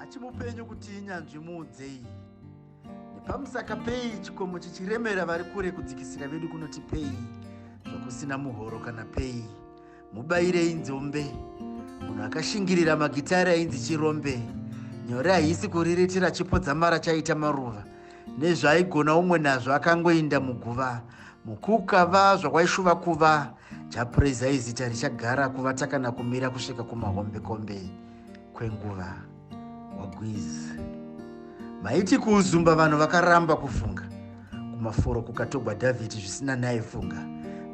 achimupenyu kuti inyanzvi muudzei nepamusaka pei chikomo chichiremera vari kure kudzikisira vedu kunoti pei zvokusina muhoro kana pei mubayirei nzombe munhu akashingirira magitari ainzi chirombe nyore haisi kuriritira chipo dzamara chaita maruva nezvaigona umwe nazvo akangoinda muguva mukukava zvakwaishuva kuva japureza izita richagara kuvata kana kumira kusvika kumahombekombe kwenguva wagwizi maiti kuuzumba vanhu vakaramba kufunga kumaforo kukatogwa dhavhidhi zvisina naye funga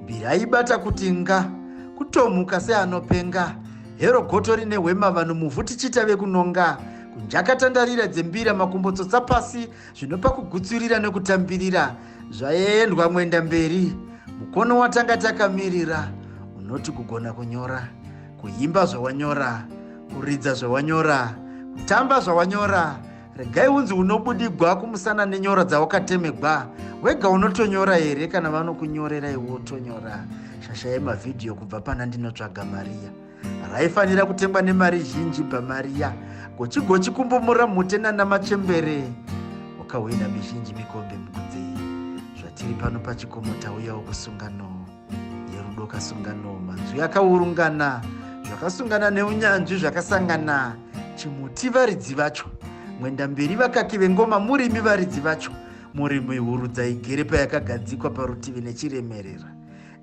mbiri aibata kuti nga kutomhuka seanopenga hero goto rine hwema vanhu muvhu tichiita vekunonga kunjakatandarira dzembira makumbo tsotsa pasi Zvino pakugutsurira nokutambirira zvaendwa mwenda mberi, mukono watanga takamirira unoti kugona kunyora, kuimba zvawanyora, kuridza zvawanyora, kutamba zvawanyora, regai unzi unobudigwa kumusana nenyora dzawakatemegwa wega unotonyora here kana vanokunyorera iwe utonyora shasha yemavhidhiyo kubva pana ndinotsvaga mariya raifanira kutengwa nemari zhinji bamariya gochigochi kumbomura mhute nanamachembere wakahwina mizhinji mikombe mukudzei zvatiri pano pachikomo tauyawo kusungano yerudo kasungano manzwi akaurungana zvakasungana neunyanzvi zvakasangana chimuti varidzi vacho mwenda mberi vakaki vengoma murimi varidzi vacho murimi hurudza igere payakagadzikwa parutivi nechiremerera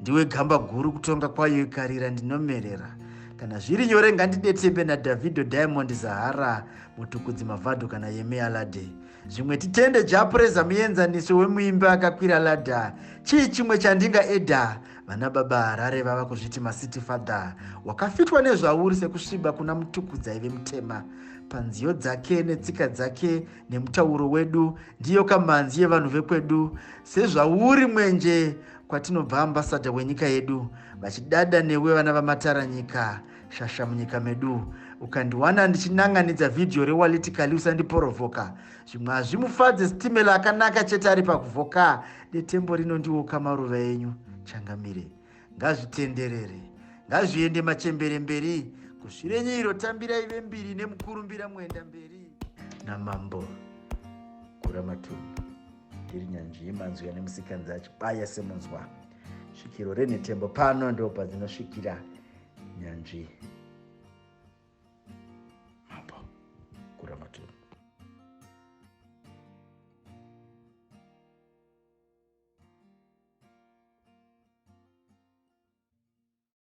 Ndiwe gamba guru kutonga kwayo ikarira ndinomerera. Kana zviri nyore ngandidetsembe naDavido Diamond Zahara mutukudzi Mavado kana Yemi Alade. Zvimwe titende Japreza muenzaniso wemuimbi akakwira ladha. Chii chimwe chandinga eda? Vana baba Harare vava kuzviti maCity Father. Wakafitwa nezvauri sekusviba kuna mutukudzi aive mutema. Panziyo dzake netsika dzake nemutauro wedu ndiyo kamanzi yevanhu vekwedu sezvauri mwenje kwatinobva ambassador wenyika yedu vachidada newe vana vamatara nyika shasha munyika medu ukandiwana ndichinanganidza vhidhiyo rewaliti kali usandiporovoka zvimwe hazvimufadze sitimela akanaka chete ari pakuvhoka detembo rino ndiwo kamaruva enyu changamire ngazvitenderere ngazviende machembere mberi kusvirenyiro tambirai vembiri nemukurumbira muenda mberi namambo kuramatumba ndiri nyanzvi yemanzwi ane musikanzi achibaya semunzwa svikiro renhetembo pano ndo padzinosvikira nyanzvi mambo kuramaturu